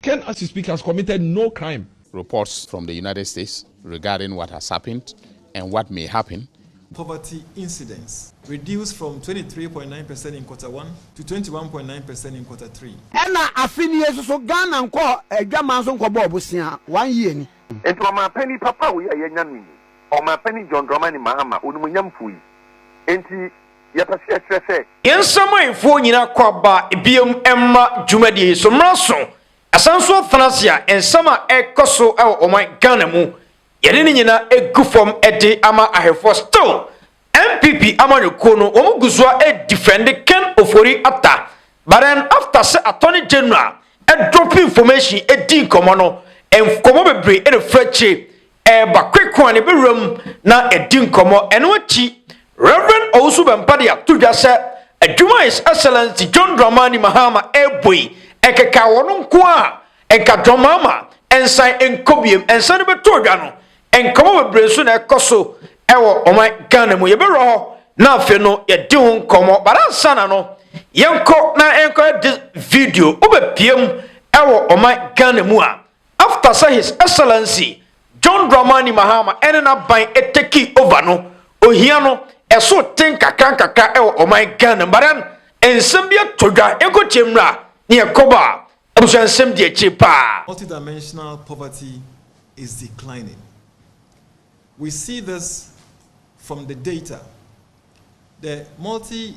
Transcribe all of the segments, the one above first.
Ken as we speak has committed no crime. Reports from the United States regarding what has happened and what may happen. Poverty incidence reduced from twenty three point nine percent in quarter one to twenty one point nine percent in quarter three. Ɛna afe ni yɛ soso Ghana nkɔɔ adwaman so nkɔ bɔɔ bosea one year ni. Enti Ɔmanpanin papa wei a yɛanya no yi, Ɔmanpanin John Dramani Mahama, Onimuonyamfo yi, enti, yɛpɛ sɛ yɛkyerɛ sɛ. Yɛn nsamanfoɔ nyinaa kɔ aba bio mma dwumadie yi so mmra so. Asan nso afena ase a nsɛm a ɛrekɔ so wɔ ɔman Ghana mu, yɛde ne nyinaa gu fam de ama ahwɛfoɔ. Still, NPP amanyɔkuo no, wɔn gu so ara defɛnde Ken Ofori Atta. But then after sɛ Attorney General drop information di nkɔmmɔ no, nkɔmmɔ bebree na ɛfiri akyire. ɛreba Kwekwa ne bɛwura mu na ɛdi nkɔmmɔ. Ɛno akyi, Rev. Owusu Bɛmpa de ato dwa sɛ adwuma a His Excellency John Dramani Mahama ɛrebɔ yi, ɛnkeka wɔ no nko ara a, ɛnka Dramama nsan nkɔ biom. Nsa no bɛtɔ dwa no, nkɔmmɔ bebree nso na ɛkɔ so wɔ ɔman Ghana mu. Yɛbɛwura hɔ na afei no yɛadi ho nkɔmmɔ. But ansa na no, yɛnkɔ na yɛnkɔyɛ this video. Wobɛpiem wɔ ɔman Ghana mu a, After sɛ His Excellency John Dramani Mahama ne n'aban takii over no, ohia no so te nkakrankakra wɔ ɔman Ghana mu. But then, nsɛm bi atɔ dwa, yɛnkɔ tie mmra na yɛkɔ ba, abusua nsɛm di akyire paa. Multidimensional poverty is declining. We see this from the data. The multi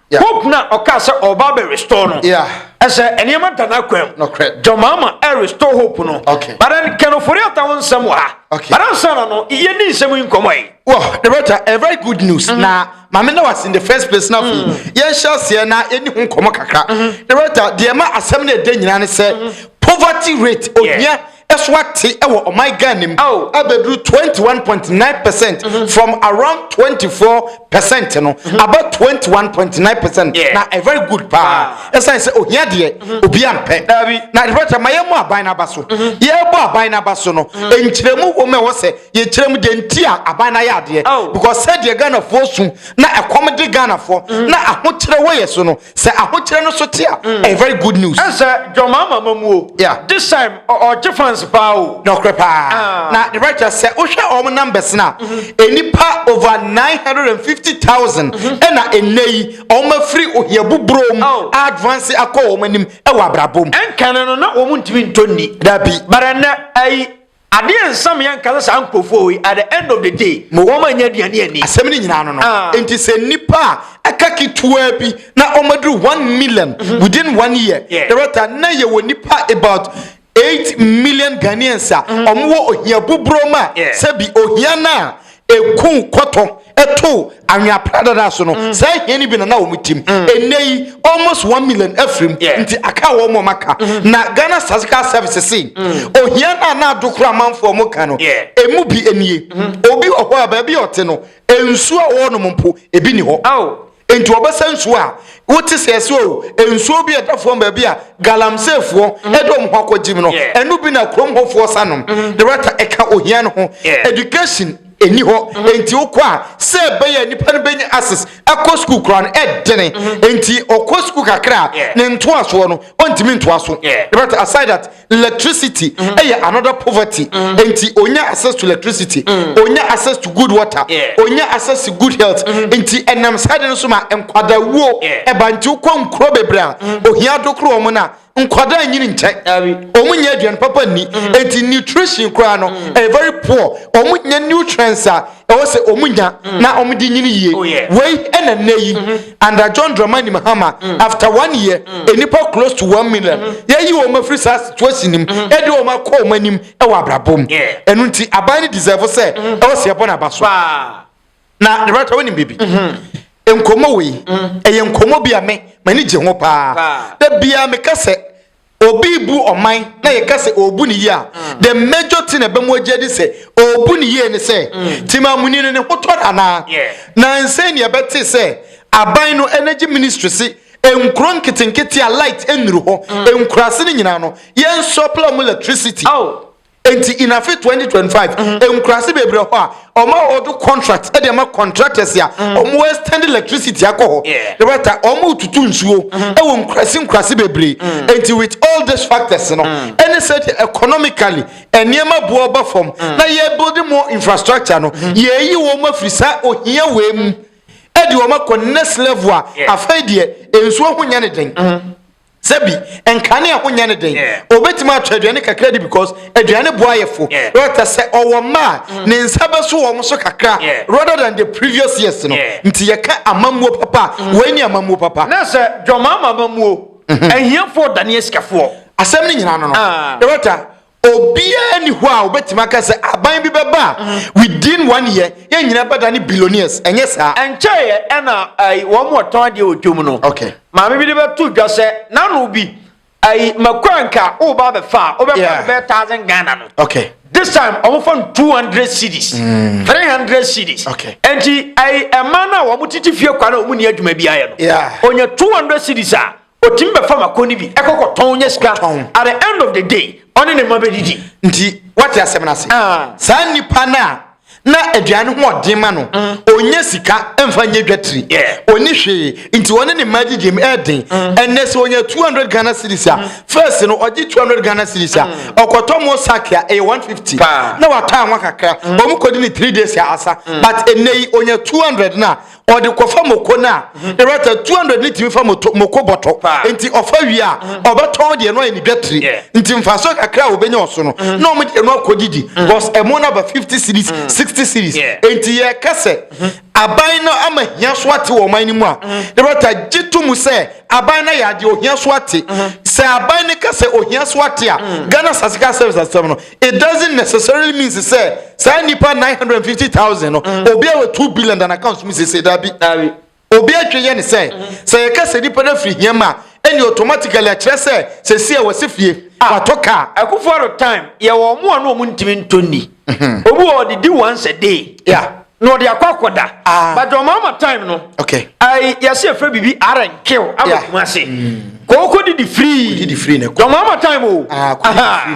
Yeah. Hope na ɔka sɛ ɔba bɛ restore no. Yeah. Ɛsɛ nneɛma da n'akwam. Nɔkorɛ. John Mahama ɛ restore hope no. Okay. But then Ken Ofori-Atta ho nsɛm wɔ ha. Okay. But ansa na no yɛ ni nsɛm yi nkɔmɔ yi. Well, the better, a very good news. Mm -hmm. Na maame na was in the first place na fi. Mm. Yɛn hyɛ aseɛ na yɛn ni ho nkɔmɔ kakra. Mm-hmm. The better, deɛ ma asɛm na ɛdɛ nyinaa ne sɛ mm-hmm. poverty rate ohia. Yeah. so ate wɔ ɔman Ghana mu oh. abɛduru 21.9 percent mm -hmm. from around 24 percent no mm -hmm. about 21.9 percent yeah. na a very good paa ɛsiane sɛ ohia deɛ mm-hmm. obi ampɛ na ɛdebɛkyɛ ma yɛmmɔ aban no aba so mm-hmm. yɛbɔ aban no aba so no mm-hmm. nkyerɛmu wɔ mu ɛwɔ sɛ yɛkyerɛmu deɛ nti a aban no ayɛ adeɛ oh. because sɛdeɛ ghanafoɔ su na ɛkɔm de ghanafoɔ na ahokyerɛ wɔ yɛ so no sɛ ahokyerɛ no so te a mm. ɛyɛ very good news. ɛsɛ jɔnmaa mama mu o. yeah this time ɔgye fans paa o. na ɔkorɛ paa ah. na the right sɛ wohwɛ wɔn numbers na mm-hmm. nipa over nine hundred and fifty thousand mm-hmm. ɛna ɛnɛ yi wɔn afiri ohia buburo mu oh. advance akɔ wɔn anim ɛwɔ abrabɔ mu. ɛnkane no na wɔn ntumi ntɔ ni. dabi. bara nnɛ ayi Adeɛ nsa me anka sɛ saa nkurɔfoɔ yi at the end of the day mo wɔn annya aduane anni. Asɛm no nyinaa no no. Enti sɛ nnipa a aka ketewa bi na wɔn aduru one million within one year, Director, na yɛ wɔ nnipa about eight million Ghanaians a wɔn wɔ ohia buburom a, sɛbi ohia no a ekum kɔtɔ ɛto anwea pradada so no mm. saa hia no bi na na wɔn tim mm. ɛnɛ yi almost one million afirim nti aka wɔn wɔn aka mm-hmm. na ghana statistical service si mm. ohia na na adokoro amanfoɔ wɔn ka no emu bi nie mm-hmm. obi wɔ hɔ a baabi ɔte no nsuo a wɔnom mpo ebi ni hɔ. Enti wɔbɛsa nsuo a wote sɛ ɛsɛ o, nsuo bi a ɛda fam baabi a galamseefoɔ mm-hmm. ɛde wɔn ho akɔgye mu no, ɛno bi na kurom hɔfoɔ sa nom. Mm-hmm. The writer ɛka ohia no ho. Education ɛni hɔ mm-hmm. enti wokɔ a sɛ ɛbɛyɛ nipa no bɛnya access ɛkɔ sukuu koraa no ɛdene enti ɔkɔ sukuu kakra a ne ntoasoɔ no ɔntumi ntoa so. The writer aside that electricity mm-hmm. ɛyɛ mm -hmm. another poverty mm -hmm. nti onya access to electricity mm. onya access to good water yeah. onya access to good health mm -hmm. nti ɛnam saa de no so ma nkwadawuo ɛba yeah. nti wokɔ nkuro bebree a mm -hmm. ohia dokoro wɔn no a nkwadaa nyini nkyɛn wɔn nyɛ aduane papa nni mm. nti nutrition koraa no mm. ɛyɛ very poor wɔn nyɛ nutrients a ɛwɔ sɛ ɔmu nya mm. na ɔmu di nyini yie oh, wei ɛna nnɛ yi mm-hmm. under john dramani mahama mm. after one year mm. nnipa close to one million mm-hmm. yɛyi wɔn afiri saa situation nim mm-hmm. ɛde wɔn akɔ wɔn anim ɛwɔ abrabɔ mu ɛnu nti aban ne deserve sɛ ɛwɔ sɛ ɛbɔ n'aba so na ne bɛtɔ wɔn nim bibi nkɔmɔ wei ɛyɛ nkɔmɔ bi a me m'ani gye ho paa da bia meka sɛ Obi rebu ɔman na yɛka sɛ ɔrebu no yie a, the major thing a ɛbɛ mu agye adi sɛ ɔrebu no yie ne sɛ Temamuni no ne ho tɔ no anaa. Nansei ne yɛbɛtee sɛ aban no energy ministry se nkuro nketenkete a light nnuru hɔ, nkuraase no nyinaa no yɛn supply wɔn electricity. Enti in afe 2025 mm-hmm. nkurase bebree hɔ a ɔma ɔdo contract ɛde ama contractors a mm-hmm. ɔmo extend electricity akɔ hɔ ne bɛta ɔmo tutu nsuo mm-hmm. ɛwɔ nkurase nkurase bebree mm. enti with all these factors no mm. ɛne sɛ deɛ economically nneɛma bu ɔba fam mm. na yɛ building more infrastructure no yɛyi wɔn afiri saa ohia wei mu ɛde wɔn akɔ next level a afei deɛ nsuo ho nyɛ ne den. Sɛbi, nkane a ɛho nyɛ ne den. Obetumi atɔ aduane kakra di because aduane boa ayefo. Rɛtɛ sɛ ɔwɔ mma a, mm. ne nsa bɛso wɔn so kakra rather than the previous years no. Nti yɛka amammuo papa a, mm. wei ne amammuo papa. Na sɛ dwamama amammuo, mhm. ahiafoɔ dane asikafoɔ. Asɛm no nyinaa no no. Rɛtɛ ah. Obiara ni hɔ a obetumi aka sɛ aban bi bɛba a within one year yɛn nyinaa bɛda ne billionaires, ɛnyɛ saa? Ɛnkyɛeɛ ɛna ɛyi wɔn a wɔtɔn adeɛ wɔ dwam no, Okay. maame bi de bɛto dwa sɛ n'ano bi ɛyi mako a nka woba abɛfa a wobɛfa Yeah. no bɛyɛ thousand Ghana no. Okay. This time wɔfa no 200 cedis, 300 cedis. Okay. Ɛnti ɛyi ɛma no a wɔn tete fie kwa no a wɔn ni adwuma bi ayɛ no, Yeah. onya 200 cedis a Otumi bɛfa mako no bi kɔ kɔtɔn nya sika tɔn. At the end of the day, ɔne ne mma bɛdidi. Nti woate asɛm no ase? Saa nipa no a na aduan no ho ɔden ma no, ɔnnya sika mfa nyɛ dwatiri, ɔnni hwee, nti ɔne ne mma didi mu ɛden. Ɛnnɛ sɛ ɔnya 200 Ghana cedis a, first no ɔgye 200 Ghana cedis a, ɔkɔtɔ mo sack a ɛyɛ 150, na watɔ anwa kakra, wɔkɔdi no three days a asa. But ɛnnɛ yi ɔnya 200 no a, ɔde kɔfa moko no a rata 200 ne tumi fa moko bɔtɔ nti ɔfa wie a mm. ɔbɛtɔn deɛ no ayɛ ne dwatire nti mfaso kakra a wɔbɛnya ɔso no mm. na ɔmo deɛ no akɔdidi mm. bcause ɛmo no aba 50 series 60 series nti yɛka sɛ mm-hmm. aban no ama hia so ate wɔ ɔman no mu a ɛbɛta gye to mu sɛ aban no ayɛ adeɛ ohia so ate mm-hmm. sɛ aban no ka sɛ ohia so ate a ghana sasika service asɛm no it doesn't necessarily means sɛ saa nipa nine hundred and fifty thousand no mm. obi a wɔ two billion dan account mu sese dabi obi atwe yɛ ne sɛ mm. sɛ yɛka sɛ nipa no afiri hiam a ɛne automatically akyerɛ sɛ sɛsi a wɔsi fie ah. watɔ kaa. akufo aro time yɛ wɔn mu a na wɔn ntumi ntɔ ni obi wɔ ɔdidi once a day. Yeah. na ɔde akɔ akɔda ah. but ɔma ama time no okay. I, yɛsɛ yɛfrɛ biribi arenkew aba yeah. kuma se mm. kɔɔkɔ didi firii na ɛkɔ ɔma ama time o ah,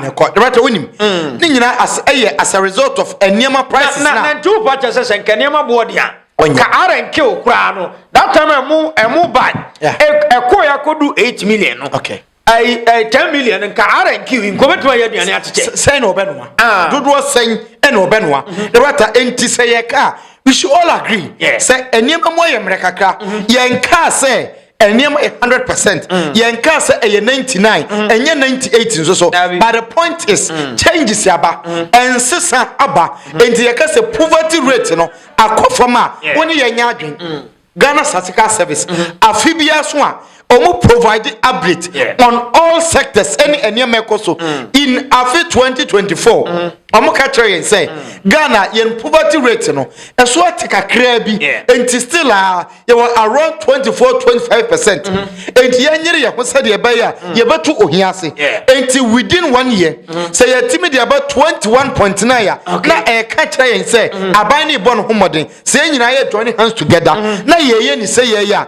na ɛkɔ dɛbɛtɛ wonim mm. ne nyinaa as ɛyɛ eh, as a result of eh, nneɛma prices na na nti wopa kyɛ sɛ sɛ nka nneɛma boɔ deɛ a ka arenkew koraa no that time ɛmo ɛmo ban ɛkɔɔ yɛ akɔdu eight million no okay. ɛyi ɛyi ten million nka rnq nka ɔbɛtumi ayɛ aduane akyekyɛ. sɛn na ɔbɛnoa. Ah. dodoɔ sɛn na ɔbɛnoa. Mhm. na wata nti sɛ yɛ kaa we should all agree. sɛ nneɛma mu ayɛ mmerɛ kakra mhm. yɛn kaa sɛ nneɛma yɛ hundred percent mm. yɛn kaa sɛ ɛyɛ ninety nine mm. ɛnyɛ ninety eight nso so but the point is mm. changes aba nsesa aba nti yɛ kɛ sɛ poverty rate no akɔ fam a wɔn yɛ nyɛ adwene. Ghana Statical Service afe biara so a wɔn provide update on all sectors ɛne nneɛma ɛkɔ so in afe 2024 wɔn ka kyerɛ yɛn sɛ Ghana yɛn poverty rate no ɛso ate kakraa bi nti still a yɛwɔ around 24 25 percent nti yɛnyere yɛn ho sɛdeɛ ɛbɛyɛ a yɛbɛto ohia ase nti within one year sɛ yɛtumi de aba 21.9 a na ɛka kyerɛ yɛn sɛ aban ne bɔ no ho mmɔden sɛ yɛn nyinaa yɛ join hands together mm-hmm. na yɛyɛ ne sɛ yɛyɛ a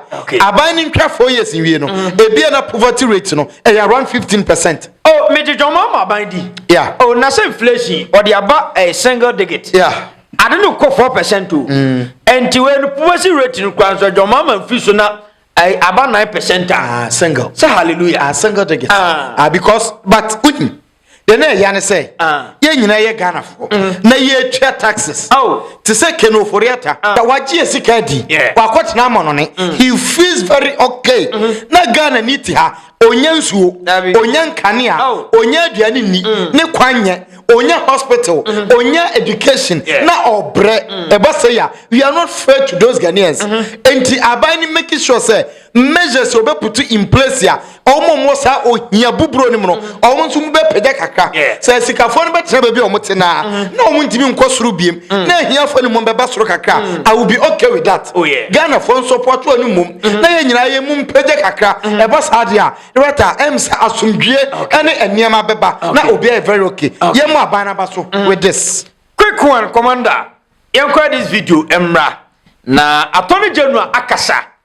aban no ntwa four years nwie no mm-hmm. ebia na poverty rate no ɛyɛ around fifteen percent. o oh, mede dwɔnma ama aban di. ya o oh, na sɛ inflation ɔde aba ɛyɛ eh, single digit. ya ade no kɔ four percent o. Mm. nti wei no poverty rate no kura nso dwɔnma ama nfi so na eh, aba nine percent a. Ah, single. sɛ hallelujah. a ah, single digit. Ah. ah because but. Mm -hmm. deɛ na ɛya ne sɛ ah. yɛn nyinaa yɛ ghanafoɔ mm. na yɛtwa taxes oh. te sɛ kene oforiata ah. na wagye yɛ sika adi wakɔtena amɔnone mm. he feels very okay mm-hmm. na ghana ni te ha onya nsuo onya nkanea oh. onya aduane ni mm. ne kwan nyɛ onya hospital mm-hmm. onya education na ɔbrɛ ɛba sɛ ya we are not fair to those ghanaians mm-hmm. nti aban ni making sure sɛ measures a ɔbɛ put in place a ɔmo ɔmo wɔ saa ohia buburo no mu no mm-hmm. ɔmo nso mo bɛ pɛgya kakra sɛ sikafoɔ no bɛ tena baabi a ɔmo te naa mm-hmm. na ɔmo ntumi nkɔ soro biem mm. na ahiafoɔ no mu bɛ ba soro kakra mm. I will be okay with that oh, Ghana foɔ nso pɔtɔ no mum mm-hmm. na yɛ nyinaa yɛ mum pɛgya kakra ɛba saa deɛ a rɛta ɛm sɛ asomdwie ɛne nneɛma bɛba na obi ayɛ very okay yɛ mu aban aba so mm. with this. quick one commander yɛn kɔ this video mmra na attorney general akasa.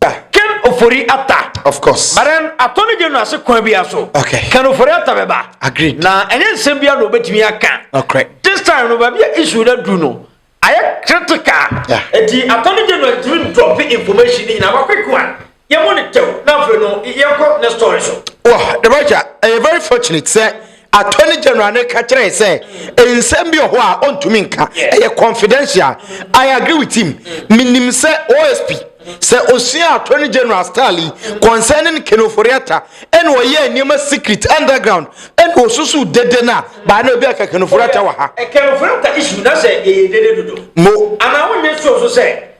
Da. Ken Ofori Atta. Of course. But then Attorney General ase kwan bi aso. Okay. Ken Ofori Atta bɛba. Agreed. Na ɛnyɛ nsɛm bi a na obetumi aka. Okay. This time no baabi a issue na duru no ayɛ critical. Yeah. Eti Attorney General ntumi drop information ni nyinaa ba quick one. Yɛ mo ne tɛw na afei no yɛ kɔ ne story so. Wɔ the right a ɛyɛ very fortunate sɛ Attorney General no ka kyerɛe sɛ nsɛm bi wɔ hɔ a ɔntumi nka, ɛyɛ confidential. I agree with him. Menim sɛ OSP, sɛ ɔsuaa Attorney General style yi concerning Ken Ofori-Atta ɛna ɔyɛɛ nneɛma secret, underground, ɛna ɔsusuu dede no a, by now ebi aka Ken Ofori-Atta wɔ ha. Ken Ofori-Atta issue, na sɛ ɛyɛ dede dodo? Mo. Anaa wonyɛ sure nso sɛ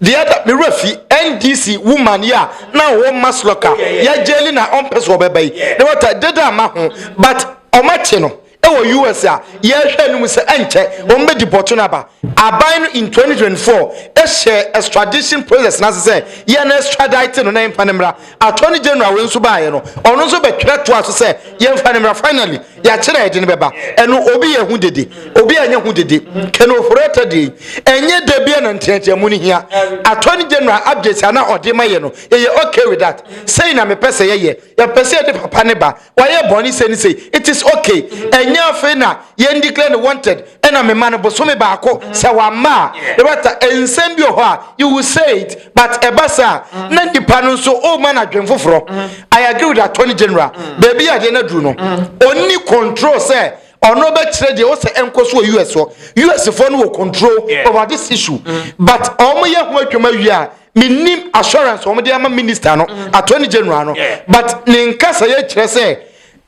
The other me wura fi NDC woman yi a na ɔwɔ Maslock a yɛagye ni na ɔmpɛ so ɔbɛba yi na wata deda ama ho but ɔmakye no ɛwɔ US a yɛhwɛ no mu sɛ ɛnkyɛ wɔn bɛ deport no aba aban no in 2024 ɛhyɛ extradition process n'ase sɛ yɛn extradite no na yɛmfa no mmra Attorney General wei nso baeɛ no, ɔno nso bɛtwerɛ toa so sɛ yɛmfa no mmra. Finally, yɛakyerɛ a yɛde no bɛba. Ɛno obi yɛ ho dede, obi anyɛ ho dede. Ken Ofori-Atta deɛ yi, ɛnyɛ da biara na nteateamu no hia. Attorney General updates a na ɔde ma yɛn no, yɛyɛ okay with that. Sei na mepɛ sɛ yɛyɛ. Yɛpɛ sɛ yɛde papa no ba. Wayɛ bɔne sei ne sei, it is okay. Ɛnyɛ afei na yɛn declare no wanted ɛna mema no bosome baako sɛ wamma a rata nsɛm bi wɔ hɔ a you will say it but ɛba saa mm. na nipa no nso o ma no adwen foforɔ. Mm. I agree with attorney general mm. baabi yɛ adeɛ no aduru no ɔnni control sɛ ɔno bɛkyerɛ deɛ ɔsɛ ɛnkɔ so wɔ us hɔ us foɔ no wɔ control over this issue but ɔmo yɛ ho adwuma wie a menim assurance wɔn de ama minister no mm. attorney general no but ne nkasa yɛ kyerɛ sɛ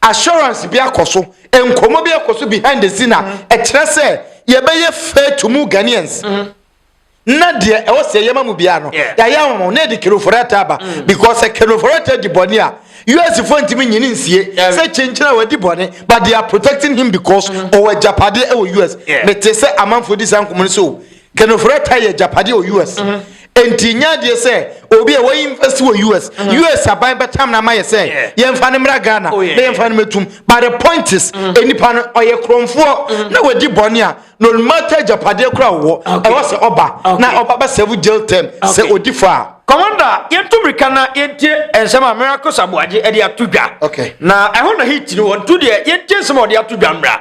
assurance bi akɔ so nkɔmɔ bi akɔ so behind the scene a mm. ɛkyerɛ sɛ yɛbɛyɛ fair to mu Ghanaians. Mm -hmm na deɛ ɛwɔ sɛ yɛma mu biara no yɛayɛ ahoma na yɛde keroforɛta aba mm. because sɛ keroforɛta di bɔne a us fo ntumi nyini nsie sɛ kyenkyena wadi bɔne but they are protecting him because mm. ɔwɔ agyapade ɛwɔ us mete sɛ amanfoɔ di saa nkɔmmɔ no sɛ o Kenofreta yɛ agyapadeɛ wɔ US. Mm -hmm. Enti nyɛ adeɛ sɛ obi a wɔyi invest wɔ US. Mm -hmm. US aban bɛtam no ama yɛ sɛ yeah. yɛmfa no mmra Ghana oh, yeah. na yɛmfa no mɛtum. But the point is, mm -hmm. nipa no ɔyɛ korɔmfoɔ mm -hmm. na wadi bɔne a no matter agyapadeɛ kora wɔ ɛwɔ sɛ ɔba na ɔba bɛ serve jail term sɛ ɔdi fɔ a. Commander, yɛntu mmirika na yɛntie nsɛm a mmerɛ akɔ saboagye de ato dwa. Okay. Na ɛho na heat no wɔntu deɛ yɛntie nsɛm a wɔde ato dwa mmra.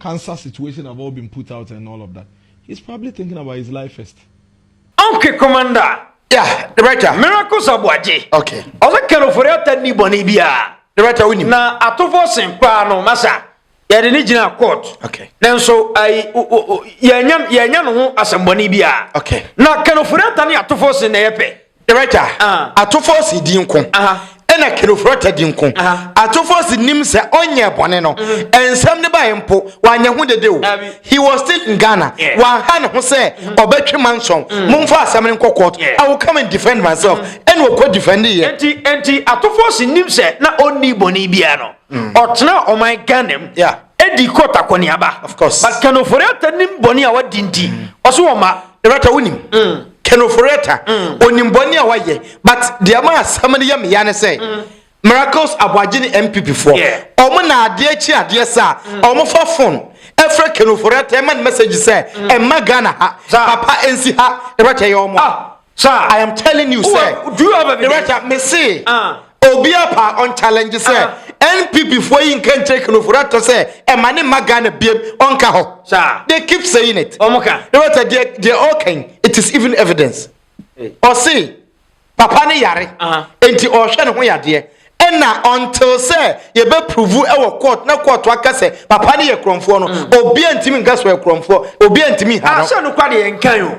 cancer situation have all been put out and all of that he's probably thinking about his life first. okay commander. yeah the writer. miracles abuagye. okay. ɔsɛ kanofori ata ni bɔnne biara. the writer wonim. na atofo sen paa no masa yɛde ne gyina court. okay. nanso ayi yɛnya yɛnya ne ho asɛmbɔnne biara. okay. na kanofori ata ne atofo sen na yɛ pɛ. Kyerɛgya, atofoɔ se di nko, ɛna Kelofrɔta di nko. Atofoɔ se nim sɛ ɔnyɛɛ bɔne no, nsɛm no baeɛ mpo, wanyɛ ho dede o. He was still in Ghana. Wanha ne ho sɛ ɔbɛtwe mansɔn, momfa asɛm no nkɔ court, I will come and defend myself. Ɛna ɔkɔ defendi yɛ. Enti, enti atofoɔ se nim sɛ na ɔnnii bɔne biara no, ɔtenaa ɔman Ghana mu, ɛdii court akɔneaba. But Kelofrɔta nim bɔne a wadi nti, ɔse ɔmma. Loretta, wonim, Kenoforetta, onim bɔne a wayɛ but deɛ ma asɛm no yɛ me ya ne sɛ mm. Miracles Aboagye ne MPP foɔ wɔn na adeɛ kyi adeɛ saa wɔn mm. fa phone ɛfrɛ Kenoforetta ɛma ne message sɛ mm. ɛma Ghana ha papa ɛnsi ha ɛrɛtɛ yɛ wɔn. Ah. Sir, I am telling you, sir. Do you have evidence? Director, me see. Uh. Obia paa ɔn challenge sɛ NPP foɔ yi nka nkyerɛ Kenofori Atɔ sɛ ɛma ne mma Ghana biam ɔnka hɔ. They keep saying it. Na wata deɛ deɛ ɔɔka yi it is even evidence. Ɔse papa no yare nti ɔɔhwɛ ne ho yadeɛ ɛna until sɛ yɛbɛ prove ɛwɔ court na court aka sɛ papa no yɛ korɔmfoɔ no obia ntimi nka sɛ ɔyɛ korɔmfoɔ obia ntimi nha no. Ahyɛ nokwa deɛ yɛnkan o.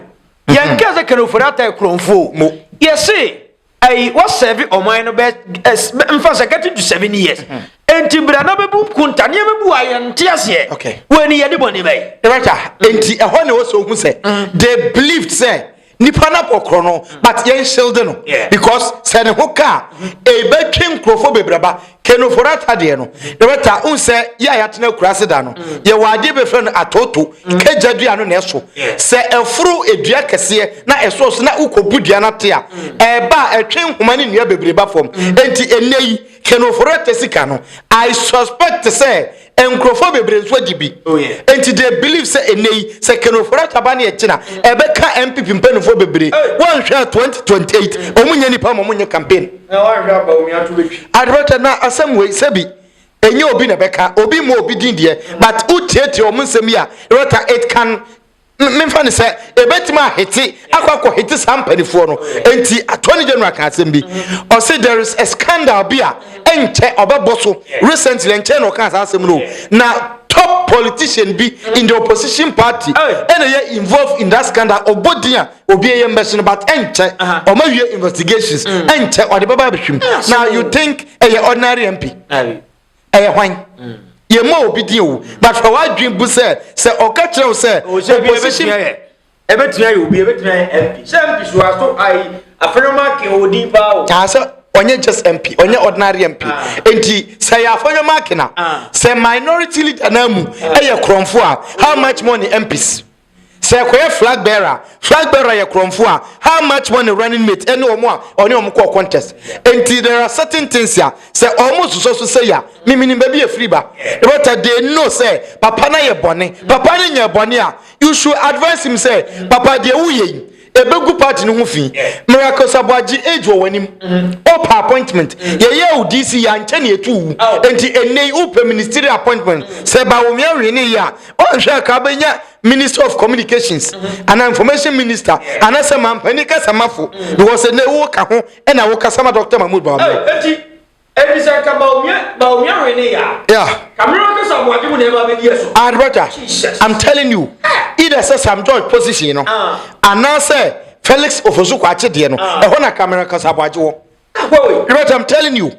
Yɛnka sɛ Kenofori Atɔ yɛ korɔmfoɔ o. Yɛse ayi wɔsɛve ɔman no bɛ ɛs bɛ nfa sɛ getting to seven years hmm. nti bra na bɛbu nkunta nneɛma bi wɔ a yɛn nte aseɛ wɔn ani yɛde bɔ ne bɛyi. ɛbɛta nti ɛhɔ na wɔsɔ ohun sɛ hmm. they believed sɛ nipa na kɔkɔrɔ no hmm. but yɛn hyɛlde no because sɛ ne ho kaa ebɛtwe nkurɔfoɔ bebreba kenoforo atadeɛ no yɛbɛta n sɛ yɛ a yɛatena akuraase da no mm. yɛwɔ adeɛ bɛfrɛ no atoto mm. kagya dua no na ɛso sɛ ɛforo dua kɛseɛ na ɛsɔ so na wokɔbu dua no ate a mm. ɛba a ɛtwe nhoma ne nnua bebree ba fam enti ɛnɛ yi kenoforo ɛtɛ sika no i suspect sɛ Nkurɔfoɔ bebree nso agye bi. Enti they believe sɛ ɛnnɛ yi sɛ Ken Ofori Atta ba ne ɛkyena ɛbɛka NPP mpaninfoɔ bebree. Woanhwɛ a 2028 wɔn nyɛ nipa ma wɔn nyɛ campaign. Advocate na asɛm wei sɛbi ɛnyɛ obi na ɛbɛka obi mmɔ obi din deɛ but wotiatia wɔn nsɛm yi a Rota it can memfa no sɛ ɛbɛtumi ahete akɔ akɔ hete saa mpanifoɔ no nti attorney general ka asɛm bi ɔse there is a scandal bi a ɛnkyɛ ɔbɛbɔ so recently ɛnkyɛ na ɔka saa asɛm no na top politician bi in the opposition party ɛna yɛ involved in that scandal ɔbɔ din a obi ɛyɛ mbɛhyɛ no but ɛnkyɛ ɔma wie investigations ɛnkyɛ ɔde bɛba abɛhwim na you think ɛyɛ ordinary mp ɛyɛ hwan yɛma obi din o but hwɛ w'adwen bu sɛ sɛ ɔka kyerɛ wo sɛ opposition ɛbɛtumi ayɛ obi ɛbɛtumi ayɛ mp sɛ mp so aso ayi afɛnwoma ake odin paa o aa sɛ ɔnyɛ just mp ɔnyɛ ordinary mp nti sɛ yɛ afɛnwoma ake na sɛ minority leader na mu ɛyɛ korɔmfo a how much money mps Sɛ kɔyɛ flag bearer, flag bearer yɛ korɔnfo a how much money running mate ɛne ɔmo a ɔne ɔmo kɔɔ contest nti there are certain things a sɛ ɔmo sosɔ so sɛyi a me menim baabi a ɛfiri ba but they know sɛ papa no ayɛ bɔne papa no nyɛɛ bɔne a you should advise him sɛ papa deɛ woyɛ yi ɛbɛgu party no ho fi miracles aboagye age wɔ w'anim wopɛ oh, appointment yɛyɛ wo dc yɛ ankyɛ ne ɛtu wu enti ɛnnɛ yi wopɛ ministry appointment sɛ ba wo mea wee ne yɛ a ɔnhwɛ ka bɛnya minister of communications anaa information minister anaasɛ mampani kasamafo because ɛnnɛ woka ho ɛna wokasa ma dr mahmood baabɔ Efisɛ nka Bawumia Bawumia wee ne ya. Yeah. Kamera kasa aboagye mu na ɛma bɛdi ɛso. Ah, brother. Jesus. I'm telling you. Either sɛ Sam George position no. Ah. Anaasɛ Felix Ofosu Kwakye deɛ no. Ah. Ɛhɔ na kamera kasa aboagye wɔ. Ah, wɔ. Brother, I'm telling you.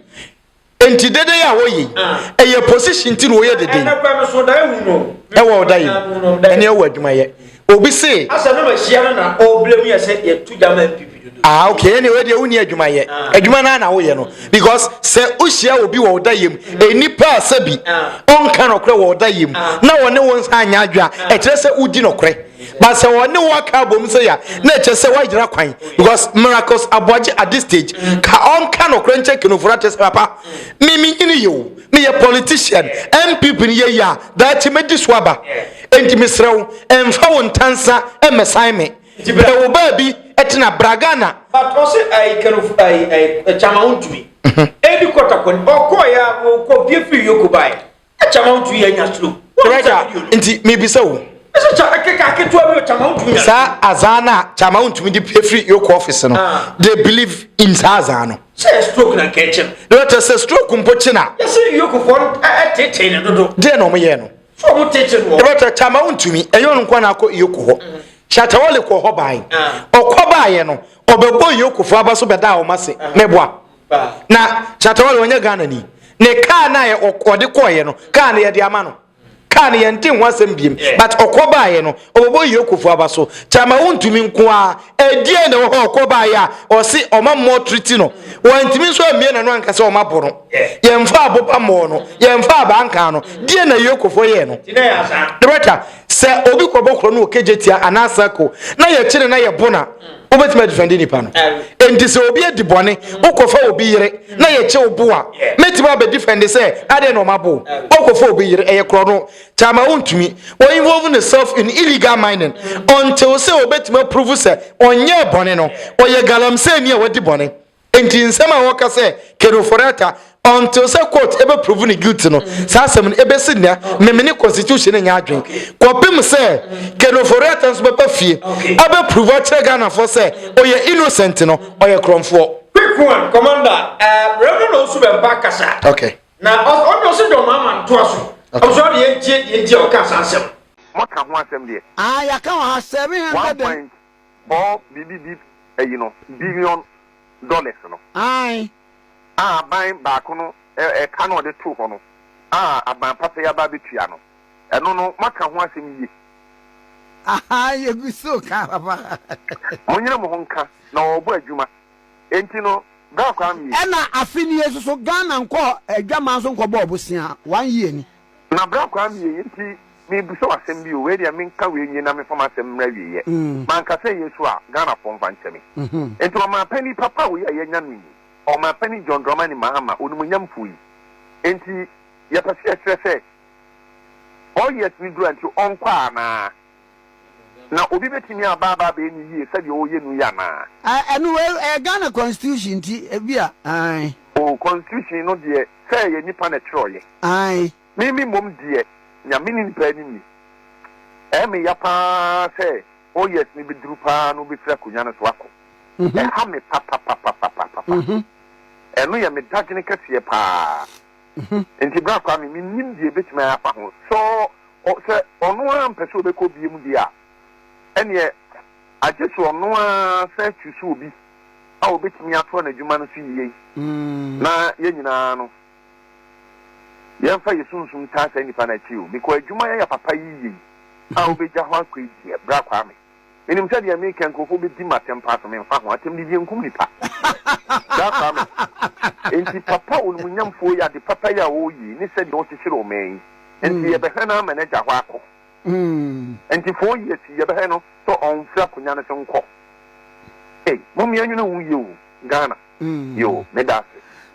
Nti dede yɛ a wɔyɛ. Ah. Ɛyɛ position ti na wɔyɛ dede. Ɛnɛ kura no so da ewu no. Ɛwɔ ɔda yi. Ɛnɛ ɛwɔ adwuma yɛ. Obi se. Asɛm no ma hyia no na ɔbrɛ mu yɛ sɛ yɛto gya ma MPP dodo. Ah okay ɛne wei deɛ wonni adwuma yɛ. Ah. Adwuma no ara na woyɛ no because sɛ wohyia obi wɔ ɔda yɛ mu ah. nnipa a sɛ bi ah. ɔnka nɔkorɛ wɔ ɔda yɛ mu ah. na wɔne wo nsa anyɛ adwe a ɛkyerɛ sɛ wodi nɔkorɛ but sɛ wɔne wo aka abom sɛ ya na ɛkyerɛ sɛ woagyina kwan because miracles aboagye at this stage mm. ka ɔnka nɔkorɛ nkyɛ kenoforo akyɛ sɛ papa mm. me menyini yɛ o meyɛ politician npp no yɛyi a daakye mɛdi so aba enti mesrɛ wo ɛmfa wo ntansa mmɛsan me brɛ wo baabi tena bra ghana batɔ sɛ ayi kanofo ayi ayi kyama wontumi ɛdi kɔtakɔ ɔkɔ ya ɔkɔ bie firi yoko bae kyama wontumi yɛ nya suro nti mebisa wo saa azaa no a kyama wontumi de firi yoko office no they believe in saa azaa no Sɛ yɛ stroke na nka ɛkyɛ no. Deɛ ɔkyɛ sɛ stroke mpo kye na. Yɛsi New York fɔ ɛtetee ne dodo. Deɛ na wɔn yɛ no. Sɛ wɔn tete no. Ɛbɛ tɛ kyama wɔn ntumi ɛyɛ wɔn nkwa na akɔ York hɔ. Shatawale kɔ hɔ baayi. Ɔkɔ baayɛ no ɔbɛbɔ York fɔ aba so bɛda wɔn ase mɛboa. Na Shatawale wɔnyɛ Ghana ni. Ne kaa na yɛ ɔde kɔɔyɛ no kaa na yɛde ama no. kaa no yɛnte ho asɛm biem but ɔkɔ baeɛ no ɔbɛbɔ yie kofo aba so kyama wontumi nko a ɛdeɛ na wɔhɔ ɔkɔ baeɛ a ɔse ɔma mmɔ triti no wɔntumi nso ammie na no anka sɛ ɔma bɔ no yɛmfa aboba mmɔɔ no yɛmfa abankaa no deɛ na yie kofo yɛ no debata sɛ obi kɔbɔ korɔ no wɔ kegye tia anaa sako na yɛkyene na yɛbo na wobɛtumi adifɛnde nipa no enti sɛ obi adi bɔne wokɔfa obi yere na yɛkye wo bo a mɛtumi abɛdifɛnde sɛ adɛn na ɔmabo wokɔfa obi yere ɛyɛ korɔ no kyama wontumi wɔ involve ne self in illegal mining until sɛ obɛtumi aprovu sɛ ɔnyɛɛ bɔne no ɔyɛ galamsɛni a wadi bɔne Enti nsɛm a wɔka sɛ Keno Forata ɔntew sɛ court ɛbɛprovu no guilty no, mm. saa asɛm no ɛbɛsi nnɛ memene constitution nyɛ adwen kɔpem sɛ Keno Forata nso bɛba fie abɛprovu akyerɛ Ghanafoɔ sɛ ɔyɛ innocent no ɔyɛ korɔmfoɔ. Quick one, Commander, uh, Reverend Osu Bɛmpa kasa. Okay. Na ɔno ɔsɛ dɔm ama ntoa so. Ɔsɔ deɛ gye deɛ nti a ɔka saa asɛm. Mɔka ho asɛm deɛ. Ah, yɛaka wɔ ha 700 and. Paul biribi bi ayi no billion dollars no. Ae. A aban baako no ɛka na ɔde too hɔ no a aban papa yi aba abɛtua no. Ɛno no moaka ho asɛm yie. Ahaa yɛgu so reka papa. Monyere mo ho nka na wɔrebɔ adwuma enti no bra koraa mmie. Ɛna afe nie nso so Ghana nkɔɔ adwaman so nkɔbɔɔ bosea one year ni. Na bra koraa meyɛ yei nti mebisa wo asɛm bi o, wei deɛ menka wei nwie na memfa m'asɛm mmra awieɛ. Manka sɛ ɛyɛ su a, Ghanafoɔ mfa nkyɛ me. Nti ɔmanpanin papa wei a yɛanya no yi, Ɔmanpanin John Dramani Mahama, onimuonyamfoɔ yi, nti yɛpɛ sɛ yɛkyerɛ sɛ four years no duru a nti ɔnkɔ anaa? Na obi bɛtumi aba aba abɛyɛ no yie sɛdeɛ ɔreyɛ no yi anaa? Ah ɛno wei ɛyɛ Ghana constitution nti ebia ae. Oh constitution no deɛ sɛ ɛyɛ nipa na ɛtwerɛeɛ. Ae. Me me mmom deɛ nea me nim paa ni nie, ɛyɛ me ya paa sɛ four years no bɛduru paa na wobɛfiri akonnwa no so akɔ. Ɛha me papapapapapapa. Ɛno yɛ me dadwene kɛseɛ paa. ho. Enti bra koraa me, mennim deɛ ɛbɛtumi ayɛ afa ho. Sɛ ɔ, sɛ ɔno ara mpɛ sɛ ɔbɛkɔ biom deɛ a, ɛneɛ agye sɛ ɔno ara san kyusu obi a ɔbɛtumi atoa n'adwuma no so yie na yɛn nyinaa no, yɛmfa yɛn sunsum taa saa nnipa no akyiri o. Mekɔ adwuma yɛyɛ papa yi yie a wobɛgya hɔ akɔ yi deɛ, bra koraa me. Menim sɛ deɛ meekɛ nkorɔfoɔ bɛdi m'atɛm paa so, menfa ho, atɛm de deɛ nkum nipa. Bra kora me. Enti papa onimunyamfoɔ yi ade papa yi a ɔɔyii ne sɛdeɛ ɔɔkyekyere ɔman yi, enti yɛbɛhwɛ no ara ma n'agya hɔ akɔ. Enti four years yi yɛbɛhwɛ no sɛ ɔnfiri akonya no so nkɔ. Ei, mom yɛnwene ho yie o, Ghana. Yoo, meda ase.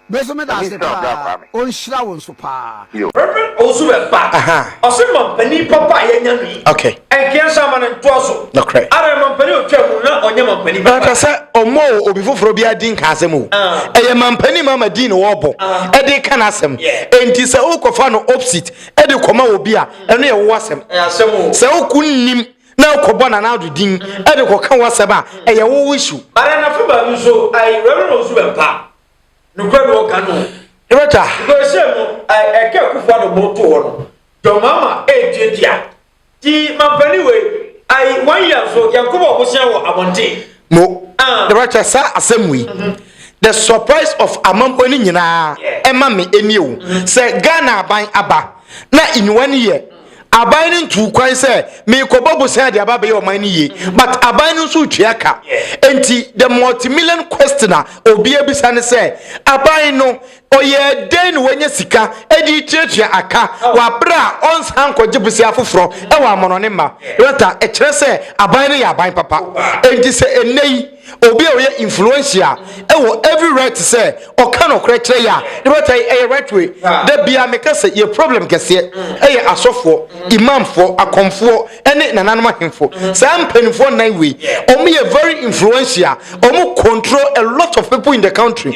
Me nso meda ase paa. Ɔnhyira wo nso paa. Rev. Owusu Bempah, ɔse mampanin papa a yɛanya no yi, ɛnkeɛ nso ama no ntoa so. Ara, mampanin a ɔtwaa mu no, na ɔnyɛ mampanin papa. Ɛmpɛ sɛ ɔmmɔɔ obi foforɔ biara din ka asɛm o. Ɛyɛ mampanin mama din na ɔrebɔ de reka n'asɛm. Enti sɛ worekɔfa no opsit de kɔma obi a, ɛno yɛ wo asɛm. Sɛ wonnim na akɔbɔ Nana Addo din de kɔka w'asɛm a, ɛyɛ wo issue. But na fa baabi nso ayi Reverend Owusu Bɛmpa. Nokorɛ no ɔka no o. Ebɛtwa. Because sei no ɛka Akufo Addo bo to hɔ no, John Mahama ɛɛtuatua. Nti mampanin wei ayi one year nso yɛnkɔbɔ ɔbosea wɔ abɔnten. mo director saa asɛm wei the surprise of amampo no nyinaa ɛma me ɛnie o sɛ ghana aban aba na nyiwa no yɛ aban no ntu kwan sɛ meekɔbɔ bosan de aba bɛyɛ ɔman no yie but aban no nso retua ka nti the multimillion question a obia bisa ne sɛ aban no Ɔyɛɛ dɛn na wanya sika de retuatua aka wɔ bere a ɔnsan nkɔgye bosea foforo wɔ amannɔne mma? Rata kyerɛ sɛ aban no yɛ aban papa. Enti sɛ nnɛyi obi a ɔyɛ influentia wɔ every right sɛ ɔka nokorɛ kyerɛ yɛ a, ne Rata yi yɛ right way. Da biara meka sɛ yɛ problem kɛseɛ yɛ asɔfoɔ, imamfoɔ, akɔmfoɔ ne nananom ahemfo. Saa mpaninfoɔ nnan wei wɔyɛ very influentia, wɔn control a lot of people in the country.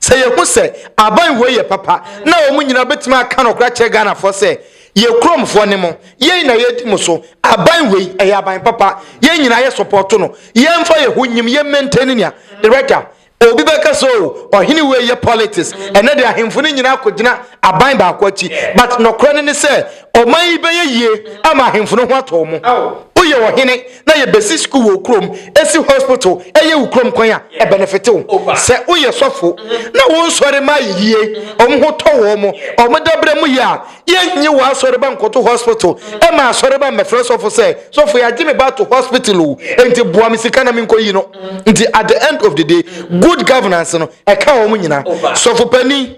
Sɛ yɛhu sɛ aban wei yɛ papa na wɔn nyinaa bɛtumi aka nɔkorɛ akyerɛ Ghanafoɔ sɛ yɛ kuromfoɔ ne mo, yɛn na yɛdi mo so, aban wei ɛyɛ aban papa, yɛn nyinaa yɛ sɔpɔto no, yɛmfa yɛn ho nyim, yɛ maintain nea. Director, Obi bɛka sɛ o, ɔhene wei yɛ politics, ɛnɛ deɛ ahemfo no nyinaa kɔgyina aban baako akyi, but nɔkorɛ no ne sɛ Ɔman yi bɛyɛ yie ama ahemfo no ho atɔ wɔn. Woyɛ ɔhene na yɛbɛsi sukuu wɔ wo kurom, asi hospital, ɛyɛ wo kurom kwan a, ɛbenefite wo. Sɛ woyɛ sɔfo na wo nsɔre mma ayɛ yie, wɔn ho tɔ wɔn, wɔn dabrɛ mu yɛ a, yɛnnye w'asɔreba nkɔto hospital mma asɔreba mmɛfrɛ sɔfo sɛ, Sɔfo yɛagye me ba ato hospital o, enti boa me sika na menkɔyi no. Nti at the end of the day, good governance no, ɛka wɔn nyinaa. Sɔfo panin.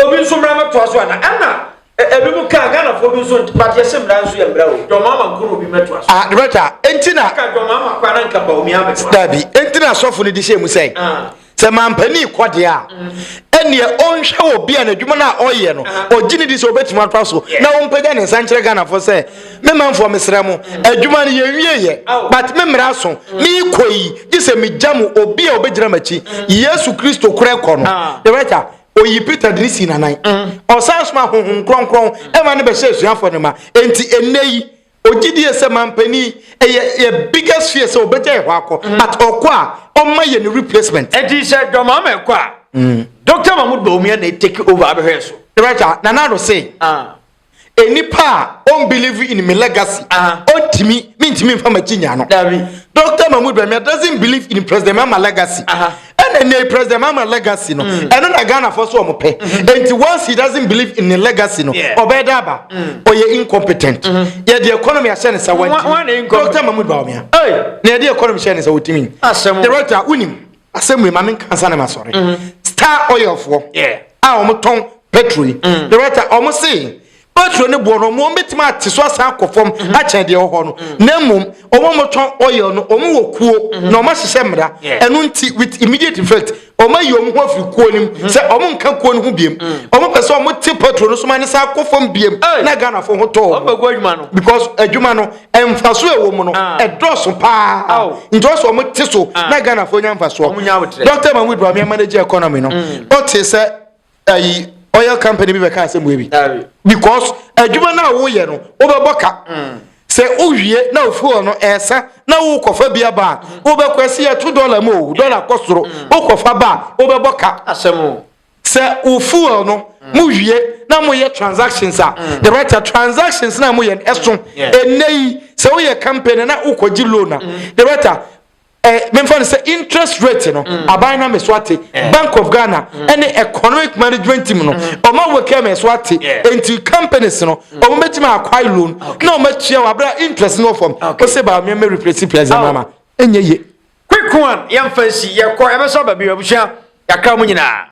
Obi nso mmra mɛ toa so ana? Ɛna ebi mu kaa Ghana fo bi nso nti but yɛsɛ mmra nso yɛ mmra o. John Mahama nko na obi mɛ toa so. Ah Roberta, enti na. Aka John Mahama kwa na nka Bawumia abɛ toa. Dabi, enti na asɔfo no di hyɛ mu sɛ sɛ mampani kɔ deɛ a ɛneɛ ɔnhwɛ wɔ bi a n'adwuma no a ɔyɛ no ɔgye ne di sɛ ɔbɛtumi atoa so na ɔmpagya ne nsa nkyerɛ Ghanafoɔ sɛ me manfoɔ mesrɛ mo adwuma no yɛnwieyɛ but me mmara so meekɔ yi gye sɛ megya mo obi a ɔbɛgyina m'akyi Yesu Kristo korɛ kɔ no Oyi Peter de ne sii n'anan. Ɔsan soma honhom kronkron ma no bɛhyɛ asuafoɔ no ma. Enti ɛnnɛ yi, ɔgye die sɛ mampanin ɛyɛ yɛ biggest fear sɛ ɔbɛgya yɛ hɔ akɔ. Mm. But ɔkɔ a, ɔma yɛ ne replacement. Enti sɛ John Mahama ɛkɔ a, mm. Dr. Mahmoud Bawumia na ɛtake over abɛhwɛ so. Ɛbɛtwa, Nana Ado se. Ah. A nipa a ɔn believe in me legacy ɔntimi me ntimi nfa makyi nya no Doctor Mahmoud Bawumia doesn't believe in President Mahama legacy ɛna ɛnɛ yi President Mahama legacy no mm. ɛno na Ghana fɔ so ɔmo pɛ mm-hmm. nti once he doesn't believe in the legacy no ɔbɛyɛ dɛ aba mm. ɔyɛ incompetent mm-hmm. yɛde economy ahyɛ ne sa wɔntimi Doctor Mahmoud Bawumia na yɛde economy hyɛ ne sa wɔtimi Director wunim asɛm wei ma me nka ansa na ma sɔre mm. star oil foɔ a wɔn tɔn petrol yi mm. the right time wɔn se petrol ne boɔ no wɔn bɛtumi ate so asan akɔ fam mm-hmm. akyɛn deɛ ɔhɔ no mm. na mmom wɔn wɔn tɔn oil no wɔn wɔ kuo mm-hmm. na wɔn ahyehyɛ mmara ɛno nti with immediate effect wɔn ayi wɔn ho afiri kuo no mu mm-hmm. sɛ wɔn nka kuo no ho biem mm. wɔn pɛ sɛ wɔn te petrol no so ma ne san akɔ fam biem na ghana fo ho tɔɔ because adwuma no mfaso a ɛwɔ mu no ah. ɛdɔɔso paa nti ɔsɛ wɔn te so ah. na ghanafoɔ nya mfasoɔ dɔkta mahmood bami amanagye economy no mm. ɔte sɛ ayi oil company bi bɛka asɛm wei bi because adwuma no a woyɛ no wobɛbɔ ka mm. sɛ wowie na ofuo no ɛsa na wokɔfa bi aba a mm. wobɛkɔ asi yɛto dɔla mu o dɔla kɔ soro wokɔfa ba a wobɛbɔ ka sɛ wo fuel no mo wie na mo yɛ transactions a mm. the right transactions na mo yɛ ɛso ɛnɛ yi sɛ woyɛ company na wokɔgye loan a mm. the right eh, memfa no sɛ interest rate no mm. aban na me so ate eh. bank of ghana ɛne mm. economic management team no mm. ɔma wo kɛ me so ate nti companies no ɔmo bɛtumi akwae loan na ɔmo atua wɔ abira interest no fam o se ba mmea mɛ replace players ɛna ma ɛnyɛ ye. quick one yɛn fɛn si yɛ kɔ ɛbɛ sɔ baabi abusua yakra mu nyinaa.